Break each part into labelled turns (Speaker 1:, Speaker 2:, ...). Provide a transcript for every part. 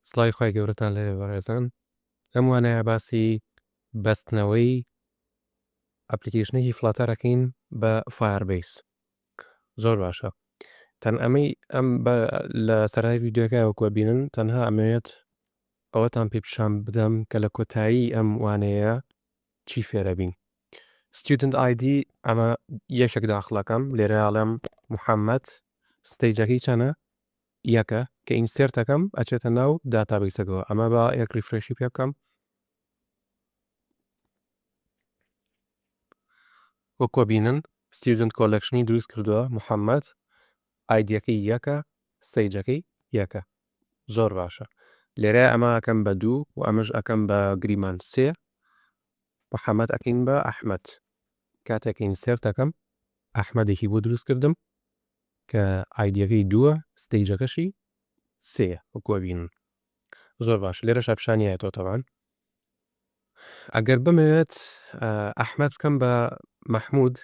Speaker 1: سڵاوی خوای گەورەتان لێبێ بەڕێزان لەم وانەیە باسی بەستنەوەی ئەپلیکەیشنێکی فڵاتەر ئەکەین بە فایەربەیس زۆر باشە تەن ئەمەی ئەم لە سەرای ڤیددیوەکە وەکوە بینن تەنها ئەمەوێت ئەوەتان پێ پیشان بدەم کە لە کۆتایی ئەم وانەیە چی فێرەبین ستودنت ئایدی ئەمە یەکێک داخڵەکەم لێرەڵم محەممەد ستەیجەکەی چەنە یەکە کە ئینسێرت ئەکەم ئەچێتە ناو داتابەیسەکەوە ئەمە با یەک ریفرێشی پێ بکەم وەکۆ بینن ستیودنت کۆلەکشنی دروست کردووە محەممەد ئایدیەکەی یەکە سەیجەکەی یەکە زۆر باشە لێرە ئەمە ئەکەم بە دوو و ئەمەش ئەکەم بە گریمان سێ محەممەد ئەکەین بە ئەحمد کاتێک ئینسێرت ئەکەم ئەحمەدێکی بۆ دروست کردم کە ئایدیەکەی دووە ستەیجەکەشی سێیە وەکو ئەبینن زۆر باش لێرەشا پیشانی ئەتۆ تەبان ئەگەر بمەوێت ئەحمەد بکەم بە مەحمود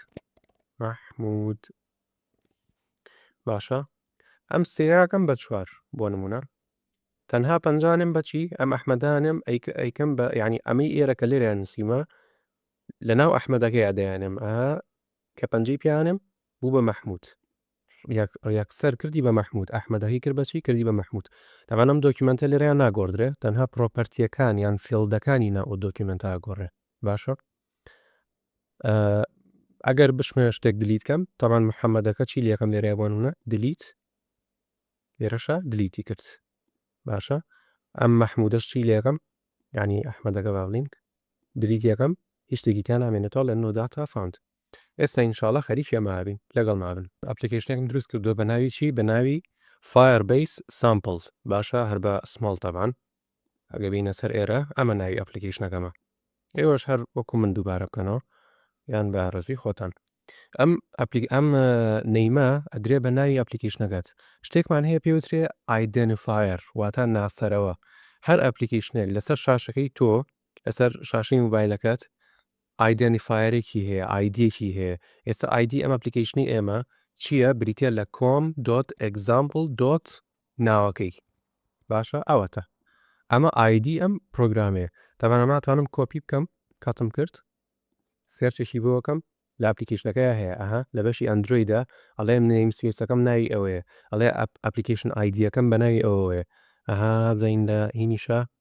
Speaker 1: مەحمود باشە ئەم سێراکەم بە چوار بۆ نمونە تەنها پەنجانم بەچی ئەم ئەحمەدانم ئەیکەم بە ینی ئەمەی ئێرە کە لێرە نسیمە لە ناو ئەحمەدەکەی ئەدەیانم ئە کە پەنجەی پیانم بوو بە مەحمود. یەک یەکسەر کردی بە مەحمود. ئەحمەدەکەی کرد بە چی؟ کردی بە مەحمود. تەبعەن ئەم دۆکیومێنتە لێرەیا ناگۆڕدرێ، تەنها پڕۆپەرتییەکان یان فیڵدەکانی ناو ئەو دۆکیومێنتە ئەگۆڕێ. باشە. ئەگەر بشمەوێ شتێک دلیت کەم، تەبعەن محەمەدەکە چی لەکەم لێرەیا بۆ نمونە؟ دلیت. لێرەشا دلیتی کرد. باشە. ئەم مەحمودەش چی لەکەم؟ یعنی ئەحمەدەکە با بڵین. دلیت یەکەم هیچ شتێکی تیا نامێنێتەوە لە نۆ داتا فاوند. ئێستا ئینشاڵا خەریکی ئەمە ئەبین لەگەڵ ئەبن. ئەپلیکەیشنێکم دروست کردووە بە ناوی چی بە ناوی فایەر بەیس سامپڵ باشە هەر بە سمۆڵ تەبان ئەگە بینە سەر ئێرە ئەمە ناوی ئەپلیکەیشنەکەمە ئێوەش هەر وەکو من دووبارە بکەنەوە یان بە ڕێزی خۆتان ئەم ئەپلیک ئەم نەیمە ئەدرێ بە ناوی ئەپلیکەیشنەکەت شتێکمان هەیە پێوترێ ئایدنفایر واتا ناسەرەوە هەر ئەپلیکەیشنێک لەسەر شاشەکەی تۆ لەسەر شاشەی موبایلەکەت ئایدێنیفایەرێکی هەیە، ئایدیەکی هەیە، ئێستا ئایدی ئەم ئەپلیکەیشنەی ئێمە چیە بریتیە لە کۆم دۆت ئێگزامپڵ دۆت ناوەکەی باشە ئەوەتە ئەمە ئایدی ئەم پرۆگرامەیە تەبەن ئەمە ناتوانم کۆپی بکەم کاتم کرد سێرچێکی بۆکەم لە ئەپلیکیشنەکەی هەیە ئەها لە بەشی ئەندرویدا ئەڵێ نیم سویسەکەم ناوی ئەوەیە ئەڵێ ئەپلیکیشن ئایدیەکەم بە ناوی ئەوەیە ئەها بزین لە هینیشە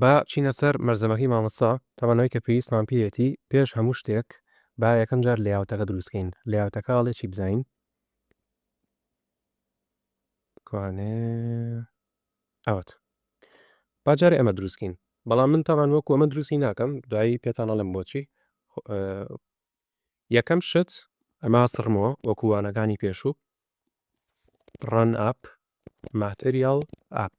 Speaker 1: با بچینە سەر مەلزەمەکەی مامۆستا، تەمەنەوەی کە پێویستمان پێیەتی، پێش هەموو شتێک با یەکەم جار لەیاوتەکە دروست کەین، لەیاوتەکە ئەڵێ چی بزانین. کوانێ ئەوەت با جارێ ئەمە دروست کەین، بەڵام من تاوان وەکو ئەمە دروستی ناکەم، دوایی پێتان ئەڵێم بۆچی. یەکەم شت ئەمە سڕمەوە وەکو وانەکانی پێشوو، run app material app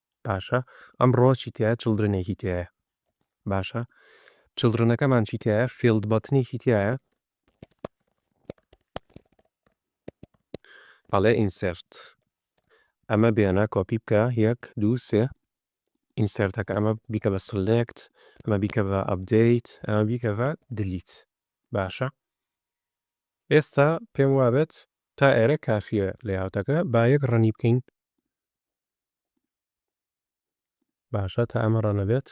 Speaker 1: باشە ئەمڕۆ چی تیایە چڵدرنێکی تیایە باشە چڵدرنەکەمان چی تیایە فیلد بەتنێکی تیایە ئەڵێ ئینسرت ئەمە بێنە کۆپی بکە یەک دوو سێ ئینسرتەکە ئەمە بیکە بە سلێکت ئەمە بیکە بە ئەبدەیت ئەمە بیکە بە دلیت باشە ئێستا پێم وابێت تا ئێرە کافیە لەیاوتەکە با یەک ڕەنی بکەین باشە تا ئەمە ڕەنە بێت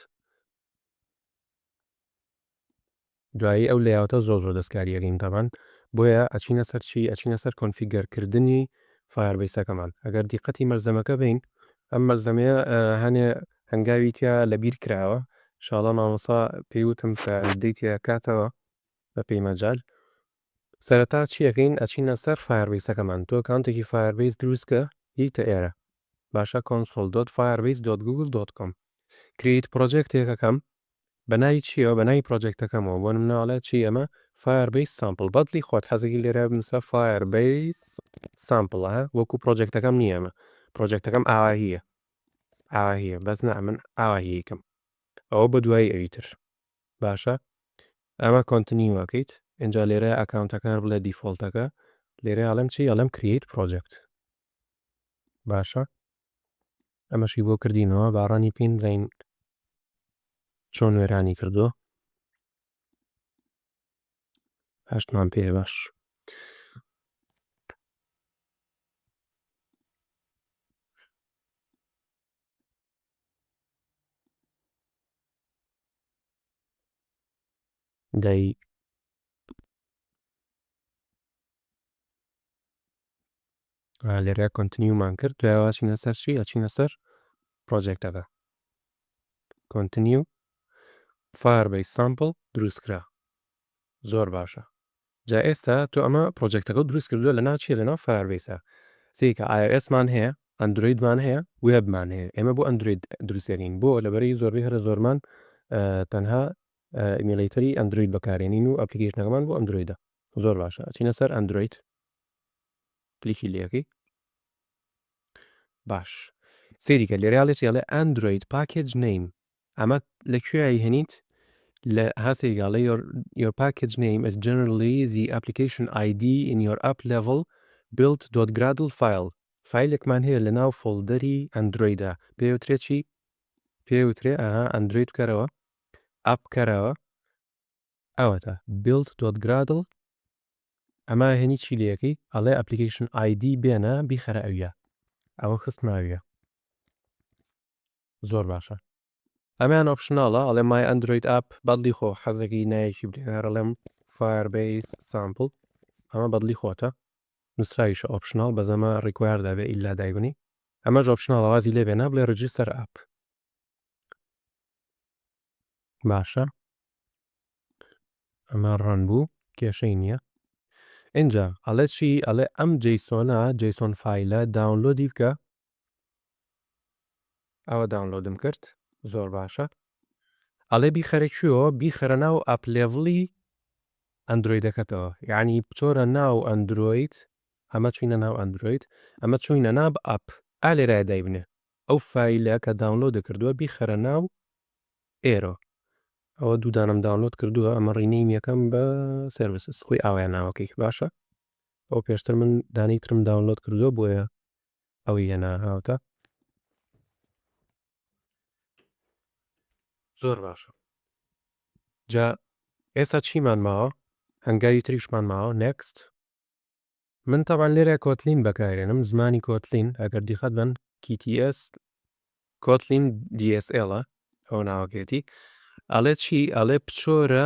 Speaker 1: دوایی ئەو لەیاوتە زۆر زۆر دەستکاریەکەین تەبان بۆیە ئەچینە سەر چی ئەچینە سەر کۆنفیگەرکردنی فایەربیسەکەمان ئەگەر دیقەتی مەرزەمەکە بین ئەم مەرزەمەیە هەنێ هەنگاوی تیا لە بیر کراوە شاڵە مامەسا پێیوتم کە دیتە کاتەوە بە پێی مەجال سەرەتا چی ئەکەین ئەچینە سەر فایەر بەیسەکەمان تۆ ئەکاونتێکی فایەر بەیس دروست کە یتە ئێرە باشە کۆنسۆڵ دۆت فایەر بەیس دۆت گوگڵ دۆت کۆم کریت پڕۆجێکتێک ئەکەم بە ناوی چیەوە بە ناوی پڕۆجێکتەکەمەوە بۆ نمونە ئەڵێ چی ئەمە فایەر بەیس سامپڵ بەدڵی خۆت حەزێکی لێرە بنووسە فایەر بەیس سامپڵ ها وەکو پڕۆجێکتەکەم نییە ئەمە پڕۆجێکتەکەم ئاوا هییە ئاوا هییە بەس نا من ئاوا هییکەم ئەوە بە دوایی ئەوی تر باشە ئەمە کۆنتنیو ئەکەیت ئینجا لێرە ئەکاونتەکان بڵێ دیفۆڵتەکە لێرە ئەڵێم چی ئەڵێم کریەیت پڕۆجەکت باشە ئەمەشی بۆ کردینەوە باڕانی پین بزین چۆن وێرانی کردو هەشتمان پێ باش دەی لێرە کۆنتنیومان کرد دوایەوە چینە سەر چی ئەچینە سەر پرۆجێکتەکە کۆنتنیو فار بەی سامپل دروستکرا زۆر باشە جا ئێستا تۆ ئەمە پڕۆجێکتەکەو دروست کردوە لەناو چیە لەناو فایەربەیسا سەیرکە ئای ئۆ ئێس مان هەیە ئەندرۆید مان هەیە وێب مان هەیە ئێمە بۆ ئەندرۆید دروست دەکەین بۆ لەبەرەی زۆربەی هەرە زۆرمان تەنها ئیمیڵەیتەری ئەندرۆید بەکارێنین و ئەپلیکەیشنەکەمان بۆ ئەندرۆیدە زۆر باشە ئەچینە سەر ئەندرۆید کلیکی لەکەی باش سەیریکە لێرەیاڵێ چێڵێ ئەندرۆید پاکێج نەیم ئەمە لە کوێ ئەیهێنیت؟ لە هاسێی گاڵێ یۆر یۆر پاکێج نەیم ئیز جەنرالی زی ئەپلیکەیشن ئای دی ئین یۆر ئەپ لەڤڵ بیڵد دۆت گرادڵ فایڵ فایلێکمان هەیە لە ناو فۆڵدەری ئەندرۆیدا پێی وترێ چی پێی وترێ ئەها ئەندرۆید بکەرەوە ئەپ بکەرەوە ئەوەتا بیڵد دۆت گرادڵ ئەما هێنی چی لەکەی ئەڵێ ئەپلیکەیشن ئای دی بێنە بیخەرە ئەویا ئەوە خستماویە زۆر باشە. ئەمەیان ئۆپشناڵە ئەڵێ مای ئەندرۆید ئاپ بەدڵی خۆ حەزەکەی نایەکی بلێ هەر ئەڵێم فایەر بەیس سامپڵ ئەمە بەدڵی خۆتە نوسراویشە ئۆپشناڵ بەس ئەمە ڕیکوایەر دەبێ ئیلا دایبنی ئەمەش ئۆپشناڵە وازی لێ بێنە بڵێ ڕیجیستەر ئاپ باشە ئەمە ڕەن بوو کێشەی نییە ئینجا ئەڵێ چی ئەڵێ ئەم جەیسۆنە جەیسۆن فایلە داونلۆدی بکە ئەوە داونلۆدم کرد زۆر باشە. ئەڵێ بیخەرە کوێوە بیخەرە ناو ئەپلێڤڵی ئەندرۆیدەکەتەوە یعنی بچۆرە ناو ئەندرۆید ئەمە چوینە ناو ئەندرۆید ئەمە چوینە ناب ئەپ ئا لێرایە دایبنێ ئەو فایلە کە داونلۆدە کردووە بیخەرە ناو ئێرۆ ئەوە دوو دانەم داونلۆد کردووە ئەمە ڕینەی یەکەم بە سرویسس خۆی ئاوایە ناوەکەی باشە ئەو پێشتر من دانی ترم داونلۆد کردووە بۆیە ئەوی هێنا هاوتا. زۆر باشە جا ئێستا چیمان ماوە هەنگاوی تریشمان ماوە next. من تەبعەن لێرە کۆتلین بەکارێنم زمانی کۆتلین ئەگەر دیقەت بەن TTS کۆتلین DSL ە ئەوە ناوەکەیەتی ئەڵێ چی ئەڵێ پچۆرە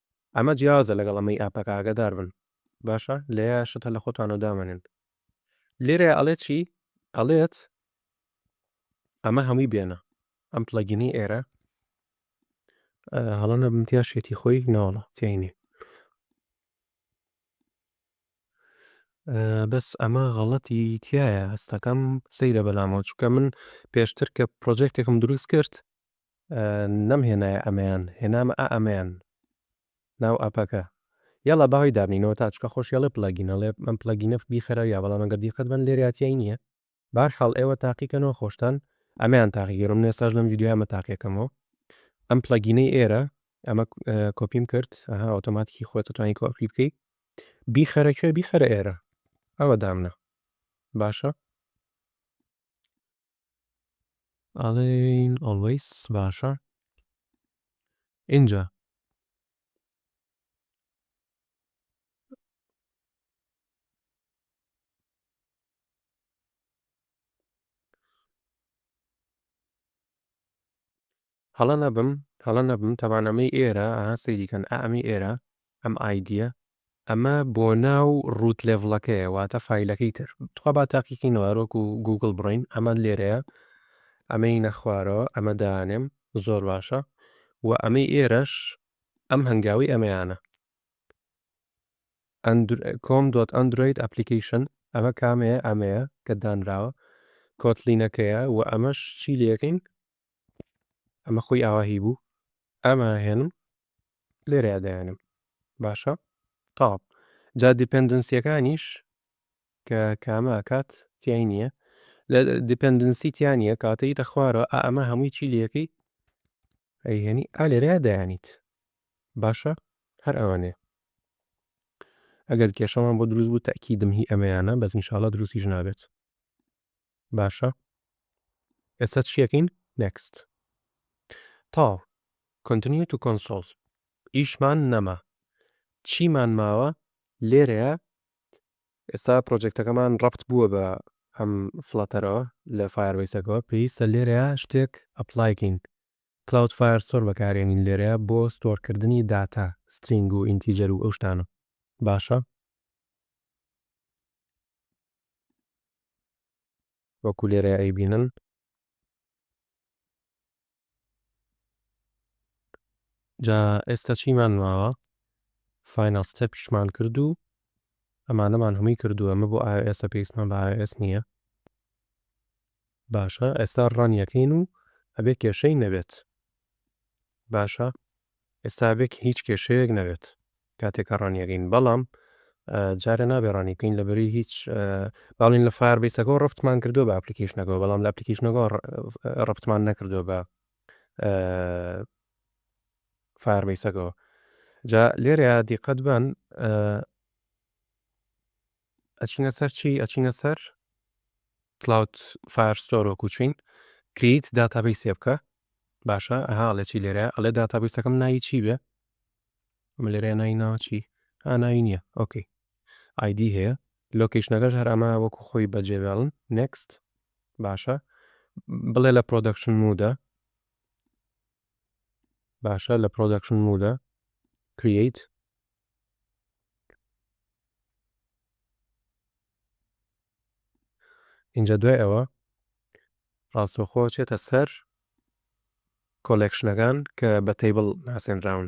Speaker 1: ئەمە جیاوازە لەگەڵ ئەمەی ئاپەکە ئاگادار بن باشە لێیە شتە لە خۆتان و دامەنێن لێرە ئەڵێت چی ئەڵێت ئەمە هەمووی بێنە ئەم پلەگینی ئێرە هەڵە نەبم تیا شێتی خۆی ناوەڵە تینی بەس ئەمە غەڵەتی تایە هەستەکەم سەیرە بەلامەوە چکە من پێشتر کە پرۆژێکتێکم دروست کرد نەم هێنایە ئەمەیان هێنامە ئا ئەمەیان ناو ئەپەکە یەڵا باوی دابنینەوە تا چکە خۆش یەڵێ پڵەگین ئەڵێ ئەم پڵەگینە بیخەرە یا بەڵام ئەگەر دیقەت بەن لێریا تیای نیە باشحاڵ ئێوە تاقی کەنەوە خۆشتان ئەمەیان تاقی گەرۆ من ئێستاش لەم ڤیدیۆیە ئەمە تاقیە کەمەوە ئەم پڵەگینەی ئێرە ئەمە کۆپیم کرد ئەها ئۆتۆماتیکی خۆتە توانی کۆپی بکەی بیخەرە کوێ بیخەرە ئێرە ئەوە دامنە باشە ئەڵێن ئۆڵوەیس باشە ئینجا هەڵە نەبم هەڵە نەبم تەبان ئەمەی ئێرە ئەها سەیری کەن ئا ئەمەی ئێرە ئەم ئایدیە. ئەمە بۆ ناو ڕووت لێڤڵەکەیە واتە فایلەکەی تر تخوا با تاقیکەینەوە هەر وەکو گووگڵ بڕۆین ئەمە لێرەیە ئەمەینە خوارەوە ئەمە دانێم زۆر باشە وە ئەمەی ئێرەش ئەم هەنگاوی ئەمەیانە ئەندر کۆم دۆت ئەندرۆید ئەپلیکەیشن ئەمە کامەیە ئەمەیە کە دانراوە کۆتلینەکەیە وە ئەمەش چی لەکەین ئەمە خۆی ئاوا هی بوو ئەمە هێنم لێرەیا دایانم باشە تاو جا دیپندنسیەکانیش کە کامە ئەکات تیای نییە لە دیپندنسی تیانە کاتەی تە خوارەوە ئا ئەمە هەمووی چی لەکەی ئەیهێنی ئا لێرەیا دایانیت باشە هەر ئەوانێ ئەگەر کێشەمان بۆ دروست بوو تاکیدم هی ئەمەیانە بەس نیشاڵە دروستی ژنابێت باشە ئێستا چیەکەین next تاو continue to console ئیشمان نەما چیمان ماوە لێرەیە ئێستا پرۆجێکتەکەمان ڕەبت بووە بە ئەم فڵاتەرەوە لە فایەربەیسەکەوە پێویستە لێرەیە شتێک ئەپلایکەین کلاود فایر سۆر بەکارێنین لێرەیە بۆ ستۆرکردنی داتا سترینگ و ئینتیجەر و ئەو شتانە باشە وەکو لێرە ئەیبینن. جا ئێستا چیمان ماوە فاینەڵ ستێپیشمان کرد و ئەمانەمان هەمووی کردووە ئەمە بۆ ئایۆئێسە پێویستمان بە ئایۆئێس نییە باشە ئێستا ڕان یەکەین و ئەبێ کێشەی نەبێت باشە ئێستا ئەبێ هیچ کێشەیەک نەبێت کاتێک کە ڕان یەکەین بەڵام جارێ نابێ ڕانی بکەین لەبەری هیچ باڵین لە فار بیسەکەەوە ڕفتمان کردو بە ئەپلیکیشنەکەەوە بەڵام لە ئەپلیکیشنەکەەوە ڕفتمان نەکردو بە فار بیسەکەەوە جا لێرە دیقەت بن ئەچینە سەر چی ئەچینە سەر کلاود فایر ستۆر وەکو چین کریت داتابەی سێ بکە باشە ئەها ئەڵێ چی لێرە ئەڵێ داتابەی سەکەم ناوی چی بێ ئەمە لێرە ناوی ناوە چی ئاناوی نییە ئۆکەی ئایدی هەیە لۆکیشنەکەش هەر ئەمە وەکو خۆی بەجێبێڵن نکست باشە بڵێ لە پرۆدەکشن مودە باشە لە پرۆدەکشن مودە کریەیت ئینجا دوای ئەوە ڕاستەوخۆ چێتە سەر کۆلێکشنەکان کە بە تەیبڵ ناسێنراون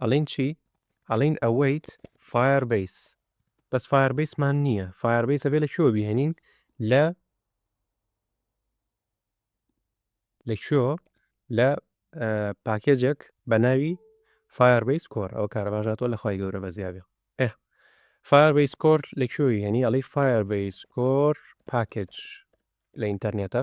Speaker 1: ئەڵێن چی ئەڵێن ئەوەیت فایەر بەیس بەس فایەر بەیس مان نییە فایەر بەیس ئەبێ لە کوێوە بیهێنین لە لە کوێوە لە پاکێجێک بە ناوی فایەر بەیس کۆر ئەو کارە باشاتەوە لە خی گەورە بەزیابێ ئێ فایەر بەیس کۆر لە کوێوی هێنی ئەڵی فایەر بەیس کۆر پاکێج لە ئینتەرنێتە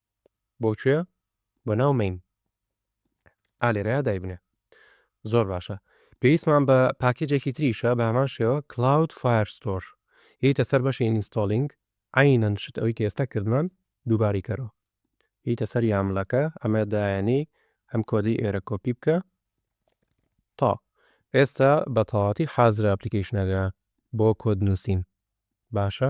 Speaker 1: بۆ کوێ بۆ ناو مین ئا لێرەیا دایبنێ زۆر باشە پێویستمان بە پاکێجێکی تریشە بە هەمان شێوە کلاود فایر ستۆر یتە سەر بەشی ئینستۆلینگ عینەن شت ئەوی کە ئێستا کردمان دووباری کەرەوە یتە سەر یاملەکە ئەمە دایانی ئەم کۆدەی ئێرە کۆپی بکە تا ئێستا بە تەواتی حازرە ئەپلیکیشنەکە بۆ کۆد نووسین باشە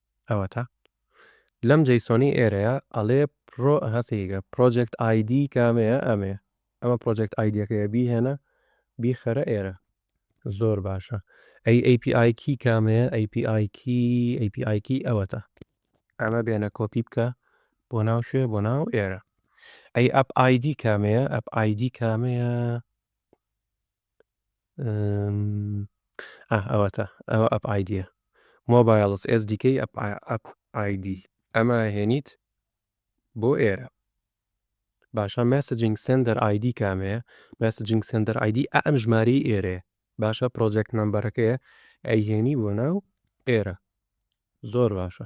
Speaker 1: ئەوەتا لەم جەیسۆنی ئێرەیا ئەڵێ پڕۆ هەسەیگە پڕۆجێکت ئایدی کامەیە ئەمەیە ئەمە پڕۆجێکت ئایدیەکەیە بیهێنە بیخەرە ئێرە زۆر باشە ئەی ئەی پی ئای کی کامەیە ئەی پی ئای کی ئەی پی ئای کی ئەوەتا ئەمە بێنە کۆپی بکە بۆ ناو شوێ بۆ ناو ئێرە ئەی ئەپ ئایدی کامەیە ئەپ ئایدی کامەیە ئاه ئەوەتا ئەوە ئەپ ئایدیە مۆبایلس ئێس دیکەی ئەپ ئەپ ئایدی ئەمە هێنیت بۆ ئێرە باشە مەسجینگ سندەر ئایدی کامەیە مەسجینگ سندەر ئایدی ئەم ژماری ئێرێ باشە پرۆجێکت نمبەرەکەیە ئەیهێنی بۆ ناو ئێرە زۆر باشە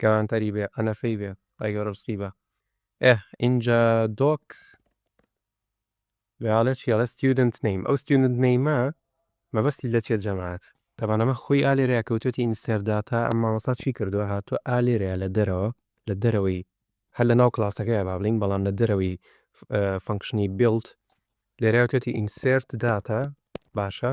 Speaker 1: گەوانتەری بێ قەنەفەی بێ خوای گەورە ڕزقی بە ئێه ئینجا دۆک بێاڵێ چی ئەڵێ ستیودنت نەیم ئەو ستیودنت نەیمە مەبەستی لە چێت جەماعەت تابان ئەمە خۆی ئا لێرەیە کەوتوێتی ئینسێر داتا ئەم مامۆستا چی کردووە هاتووە ئا لێرەیە لە دەرەوە لە دەرەوەی هەر لە ناو کڵاسەکەیە با بڵێین بەڵام لە دەرەوەی فەنکشنی بیڵد لێرەیە توێتی ئینسێرت داتا باشە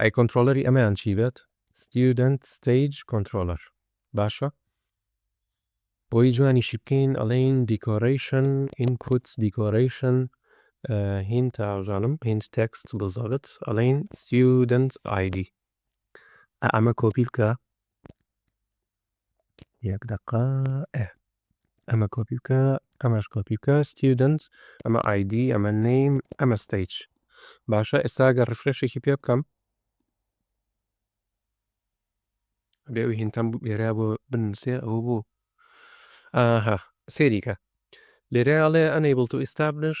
Speaker 1: ئەی کۆنترۆڵەری ئەمەیان چی بێت؟ Student Stage Controller باشە. بۆی جوانیشی بکەین ئەڵێین دیکۆرەیشن ئینپوت دیکۆرەیشن هین تاژانم هیند تێکست بزارت ئەڵێین Student ID ئەمە کۆپی بکە یەک دەقە ئە ئەمە کۆپی بکە ئەمەش کۆپی بکە student ئەمە ID ئەمە نیم ئەمە ستەیج باشە ئێستا گە ڕفرشێکی پێ بکەم بێ ئەو هینتەم لێرا بۆ بنووسێ ئەو بوو ئاها سێریکە لێرەڵێ ئەنەیبڵ تو ئیستابلش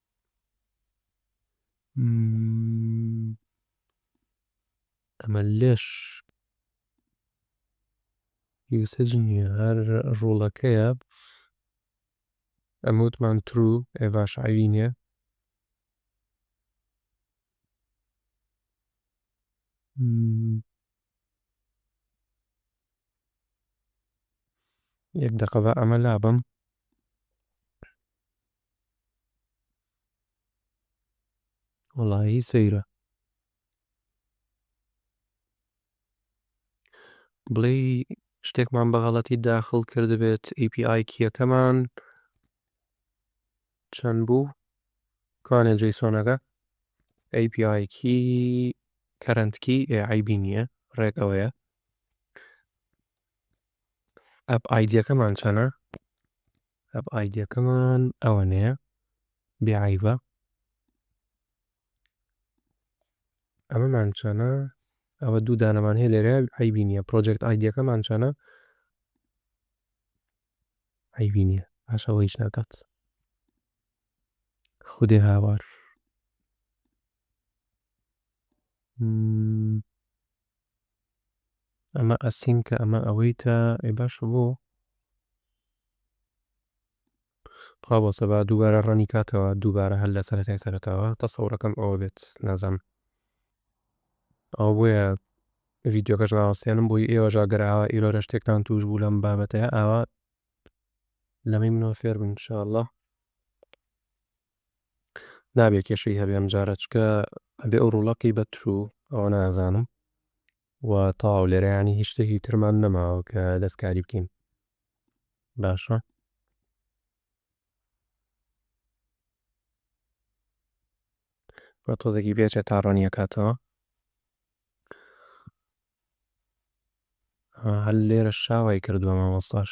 Speaker 1: ئەمە لەش یوسج نیە هەر ڕوڵەکەیە ئەمە وتمان ترو ئێڤاش عەیبی نیە یەک دەقە با ئەمە لابەم. وەڵایی سەیرە بڵێی شتێکمان بە غەڵەتی داخڵ کردبێت API کیەکەمان چەند بوو کوانێ جەیسۆنەکە API کی کەرەنتکی ئێعیبی نییە ڕێکەوەیە ئەپ ئایدیەکەمان چەنە؟ ئەپ ئایدیەکەمان ئەوەنەیە بێ عیبە ئەمەمان چەنە ئەوە دوو دانەمان هەیە لێرە عیبی نیە پرۆجێکت ئایدیەکەمان چەنە عیبی نیە باشەوە هیچ ناکات خودێ هاوار ئەمە ئەسینکە ئەمە ئەوەیتە ئەی باشە بۆ خوا بۆ سەبا دووبارە ڕەنی کاتەوە دووبارە هەر لە سەرەتای سەرەتاوە تەسەورەکەم ئەوە بێت نازانم ئەو بۆیە ڤیددیوکەش ناوەستێنم بۆی ئێوەژا گەراوە ئیرۆرە شتێکتان توش بوو لەم بابەتەیە ئاوا لەمەی منەوە فێر بن شاءله نابێ کێشەی هەبێ ئەمجارە چکە ئەبێ ئەو ڕوڵەقی بە ترو ئەوە نازانم و تاو لێرەیانی هیچ شتێکی ترمان نەماوە کە دەستکاری بکەین باشە بە تۆزێکی بێچێت تا ڕۆنیە کاتەوە هەل لێرە شاوای کردووە مامۆستاش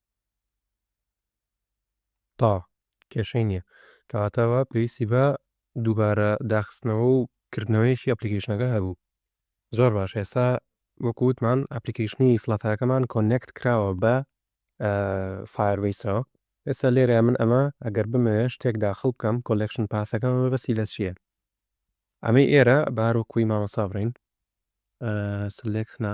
Speaker 1: تا. کێشەی نییە. کەواتە ئەوە پێویستی بە دووبارە داخستنەوە و کردنەوەیەکی ئەپلیکەیشنەکە هەبوو. زۆر باش ئێستا وەکو وتمان ئەپلیکەیشنی فلاتەرەکەمان کۆنێکت کراوە بە فایەربەیسەوە. ئێستا لێرە من ئەمە ئەگەر بمەوێت شتێک داخڵ بکەم کۆلێکشن پاسەکەم مەبەستی لە چییە؟ ئەمەی ئێرە بە هەر وەکووی مامۆستا بڕین سلێکت نا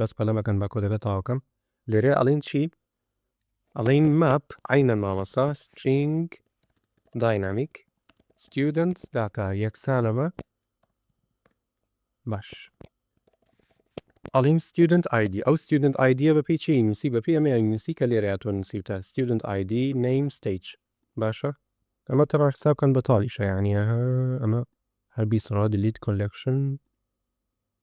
Speaker 1: بەس پەلە مەکەن با کۆدەکە تەواوکەم. لێرە ئەڵێین چی ئەڵێین ماپ عینەن مامۆستا سترینگ داینامیک ستودنت داتا یەکسانە بە باش ئەڵیم ستودنت ئایدی ئەو ستودنت ئایدیە بە پێی چی نووسی بە پێی ئەمە نووسی کە لێرە تۆ نووسیوتە ستودنت ئایدی نیم ستیج باشە ئەمە تەڕا حساب بکەن بە تاڵیشە یعنی ئەمە هەر بیسڕا دلیت کۆلکشن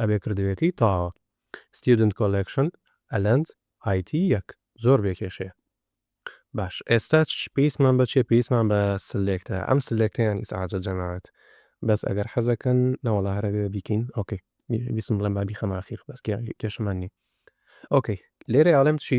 Speaker 1: ئەبێ کردبێتی تاوە. Student Collection Alent IT یەک زۆر بێ کێشەیە. باش ئێستا پێویستمان بە چیە پێویستمان بە سلێکتە ئەم سلێکتەیان ئیسعاجە جەماعەت بەس ئەگەر حەزەکەن نەوەڵا هەرەوێ بیکەین ئۆکەی بیسم بڵێم بابی خەماخیر بەس کێشەمان نی ئۆکەی لێرە ئاڵم چی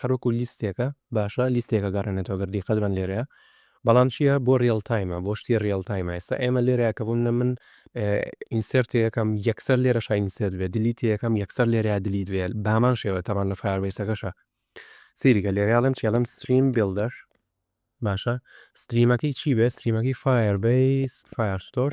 Speaker 1: هەر وەکو لیستێکە باشە لیستێکە گەڕێنێتەوە گەر دیقەت بەن لێرەیە بەڵام چیە بۆ ریەڵ تایمە بۆ شتی ریەڵ تایمە ئێستا ئێمە لێرەیە کە بووم نە من ئینسێرتێ یەکەم یەکسەر لێرە شاینسێت بێ دلیت یەکەم یەکسەر لێرە دلیت بێ بامان شێوە تەمان لە فاربەیسەکەشە سیریکە لێرەڵم چێڵم ستریم بلدەر باشە ستریمەکەی چی بێ ستریمەکەی فایەر بەیس فایرستۆر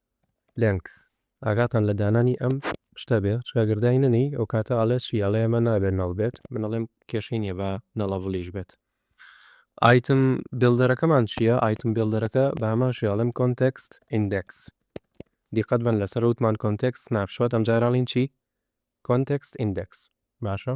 Speaker 1: لێنکس ئاگاتان لە دانانی ئەم شتە بێ چکە گەر دای نەنێی ئەوکاتە ئەڵێ چی ئەڵێ ئەمە نابێ نەڵ بێت من ئەڵێم کێشەی نیە با نەڵەڤڵیش بێت ئایتم بیڵدەرەکەمان چیە ئایتم بیڵدەرەکە بە هەمان شێ ئەڵێم کۆنتێکست ئیندێکس دیقەت بەن لەسەر وتمان کۆنتێکست سناپ شۆت ئەمجارە ئەڵێین چی کۆنتێکست ئیندێکس باشە.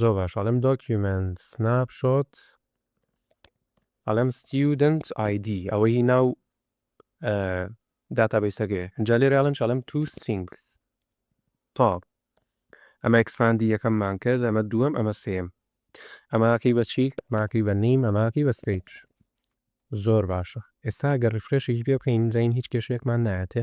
Speaker 1: زۆر باش ئەڵێم دۆکیومێنت سناپ شۆت ئەڵێم ستیودنت ئایدی ئەوە هی ناو داتابەیسەکەی ئینجا لێرە ئەڵێم چ ئەڵێم تو سترینگس تاڵ ئەمە ئەکسپاندی یەکەممان کرد ئەمە دووەم ئەمە سێم ئەماکەی بە چی ماکەی بە نیم ئەماکەی بە ستەیج زۆر باشە ئێستا گە ڕفرێشێکی پێ بکەین زین هیچ کێشەیەکمان نایەتێ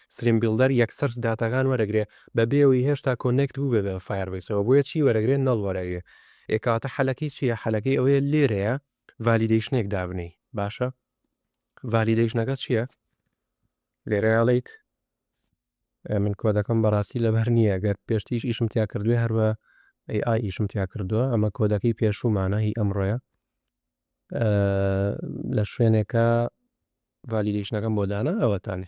Speaker 1: ستریم بیڵدەر یەکسەر داتاکان وەرەگرێ بەبێ ئەوەی هێشتا کۆنێکت بووبێ بە فایەربەیسەوە بۆیە چی وەرەگرێ نەڵ وەرەگرێ ئێ کەواتە حەلەکەی چیە حەلەکەی ئەوەیە لێرەیە ڤالیدەیشنێک دابنێی باشە ڤالیدەیشنەکە چیە لێرە ئەڵێیت من کۆدەکەم بەڕاستی لەبەر نییە گەر پێشتیش ئیشم تیا کردوێ هەر بە ئەی ئای ئیشم تیا کردووە ئەمە کۆدەکەی پێشومانە هی ئەمڕۆیە لە شوێنێکە ڤالیدەیشنەکەم بۆ دانا ئەوەتانێ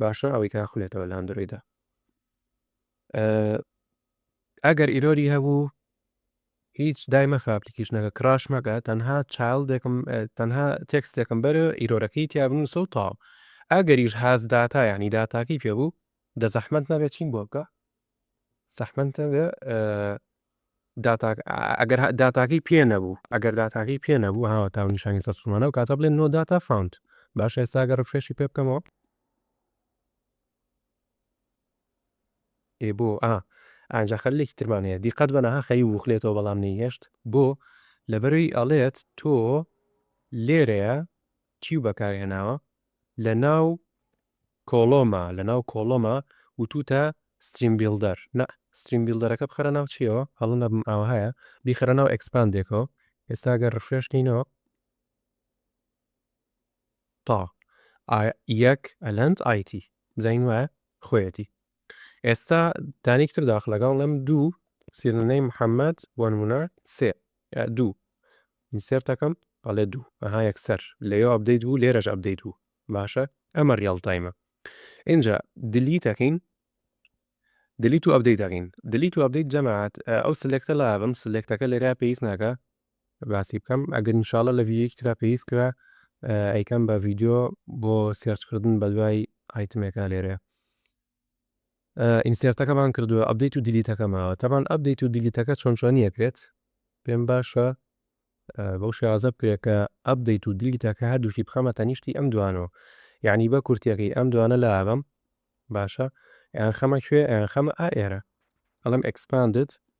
Speaker 1: باشە ئەوەی کە ئەخونێتەوە لە ئەندرۆیدا ئەگەر ئیرۆری هەبوو هیچ دای مەخە ئەپلیکیشنەکە کراش مەکە تەنها چایلدێکم تەنها تێکستێکم بەر ئیرۆرەکەی تیا بنووسە و تاو ئەگەریش هاز داتا ینی داتاکەی پێ بوو دە زەحمت نەبێت چین بۆ بکە زەحمنتە بێ داتاکە ئەگەر داتاکەی پێ نەبوو ئەگەر داتاکەی پێ نەبوو هاوە تاو نیشانی سەر سومانە و کاتە بڵێن نۆ داتا فاوند باشە ئێستا ئەگەر ڕفرێشی پێ بکەمەوە ئێ بۆ ئا ئەجا خەلێکی ترمان هەیە دیقەت بەنەها خەی وخلێتەوە بەڵام نەیهێشت بۆ لەبەروی ئەڵێت تۆ لێرەیە چی بەکارهێناوە لە ناو کۆڵۆما لەناو کۆڵۆما وتوتە ستریم بیڵدەر نا ستریم بیڵدەرەکە بخەرە ناو چیەوە هەڵە نەبم ئاوەهایە بیخەرە ناو ئێکسپاندێکەوە ئێستا گەر ڕفرێش کەینەوە تا ئا یەک ئەلەند ئایتی بزانین وایە خۆیەتی ئێستا دانێکی تر داخ لەگەڵ لەم دوو سیرنەی محەممەد بۆ نمونە سێ دوو ئینسێرتەکەم بەڵێ دوو ئەها یەکسەر لەیۆ ئەبدەیت بوو لێرەش ئەبدەیت بوو باشە ئەمە ڕیاڵ تایمە ئینجا دیلیت ئەکەین دیلیت و ئەبدەیت ئەکەین دیلیت و ئەبدەیت جەماعەت ئەو سلێکتە لابم سلێکتەکە لێرا پێویست ناکە باسی بکەم ئەگەر ان شاء الله لە ڤیدیۆیەکی ترا پێویست کرا ئەیکەم بە ڤیدیۆ بۆ سێرچ کردن بە دوای ئایتمێکا لێرە ئینسێرتەکەمان کردوە ئەپدەیت و دیلیتەکە ماوە تەبان ئەپدەیت و دیلیتەکە چۆن چۆنی ئەکرێت پێم باشە بەو شێوازە بکرێت کە ئەپدەیت و دیلیتەکە هەردووکی بخەمە تەنیشتی ئەم دوانەوە یعنی بە کورتیەکەی ئەم دوانە لا ئەبەم باشە یان خەمە کوێ یان خەمە ئا ئێرە ئەڵم ئەکسپاندد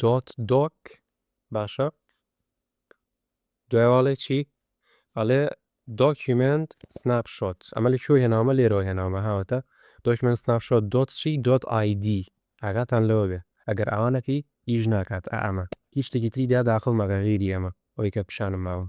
Speaker 1: دۆت دۆک باشە دوای واڵێ چی ئەڵێ دۆکیومێنت سناپ شۆت ئەمە لە کوێ هێناومە لێرەوە هێناومە هاوەتە دۆکیومێنت سناپ شۆت دۆت چی دۆت ئایدی ئاگاتان لەوە بێ ئەگەر ئاوانەکەی ئیش ناکات ئەمە هیچ شتێکی تری دا داخڵ مەکە غیری ئەمە ئەوەی کە پیشانم ماون.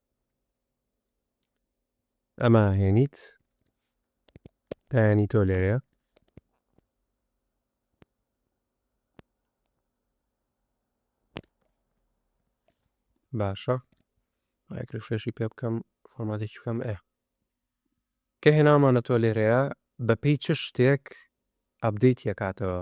Speaker 1: ئەمە هێنیت دایانی تۆ لێرەیە باشە ئایکرفرێشی پێ بکەم فۆرماتێکی بکەم ئێ کە هێنامانە تۆ لێرەیە بەپی چ شتێک ئەبدەیت یەکاتەوە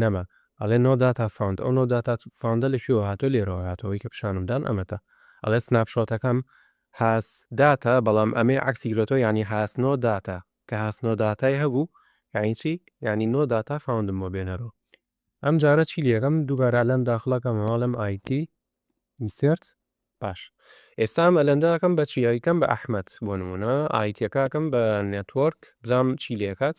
Speaker 1: نەما ئەڵێ نۆ داتا فاوند ئەو نۆ داتا فاوندە لە کوێوە هاتوە لێرەوە هاتوە ئەوەی کە پیشانم دان ئەمەتە ئەڵێ سناپ شۆتەکەم هاس داتا بەڵام ئەمەی عەکسی گرۆتەوە یانی هاس نۆ داتا کە هاس نۆ داتای هەبوو یانی چی یانی نۆ داتا فاوندم بۆ بێنەرۆ ئەم جارە چی لێکەم دووبارە ئەلەند داخڵ ئەکەم ئەڵێم ئایدی ئینسێرت باش ئێستا ئەم ئەلەندە ئەکەم بە چی ئەیکەم بە ئەحمەد بۆ نمونە ئایتیەکە ئەکەم بە نێتوۆرک بزانم چی لێکات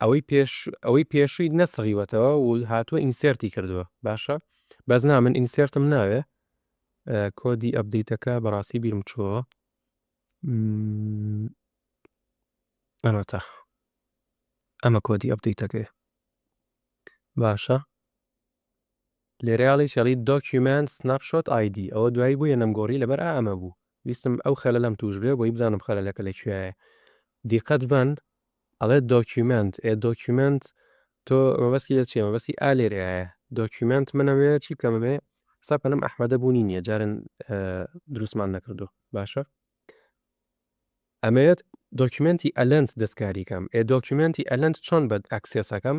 Speaker 1: ئەوەی پێش ئەوەی پێشووی نەسڕیوەتەوە و هاتووە ئینسێرتی کردووە باشە بەس نا من ئینسێرتم ناوێ کۆدی ئەبدەیتەکە بەڕاستی بیرم چووە ئەمەتە ئەمە کۆدی ئەبدەیتەکەی باشە لێرە ئەڵێی چێڵی دۆکیومێنت سناپ شۆت ئای دی ئەوە دوایی بویە نەمگۆڕی لەبەر ئا ئەمە بوو ویستم ئەو خەلەلەم توش بێ بۆی بزانم خەلەلەکە لە کویایە دیقەت بەن ئەڵێ دۆکیومێنت ئێ دۆکیومێنت تۆ مەبەستی لە چیە مەبەستی ئا لێرەیایە دۆکیومێنت منە وێ چی بکەم ئەمێ حساب کەنم ئەحمەدە بونی نیە جارن دروستمان نەکردو باشە ئەمەیەت دۆکیومێنتی ئەلەند دەستکاری کەم ئێ دۆکیومێنتی ئەلەند چۆن بەد ئەکسێسەکەم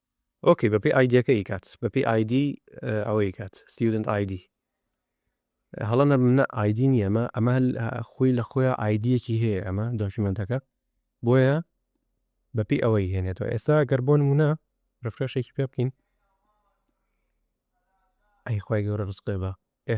Speaker 1: ئۆکەی بەپێی ئایدیەکە ئیکات بەپێی ئایدی ئەوە ئیکات ستیودنت ئایدی هەڵە نەبم نە ئایدی نیە ئەمە ئەمە خۆی لە خۆیان ئایدیەکی هەیە ئەمە دۆکیومنتەکە بۆیە بەپی ئەوەی هێنێتەوە ئێستا گەر بۆ نمونە ڕفرەشێکی پێ بکەین ئەی خی گەورە ڕسقێ بە ئێ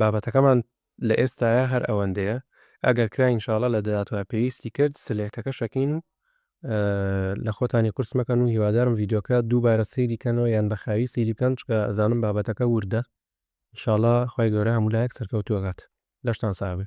Speaker 1: بابەتەکەمان لە ئێستایا هەر ئەوەندەیە ئەگەر کرا ان شاءاللە لە داهاتوا پێویستی کرد سلێکتەکە شەکەین و لە خۆتانی قورس مەکەن و هیوادارم ڤیدیۆکە دووبارە سەیری کەنەوە یان بە خاوی سەیری بکەن چکە ئەزانم بابەتەکە وردە ان شاءاللە خوای گەورە هەموو لایەک سەرکەوتوو ئەکات لەشتان ساغ بێ.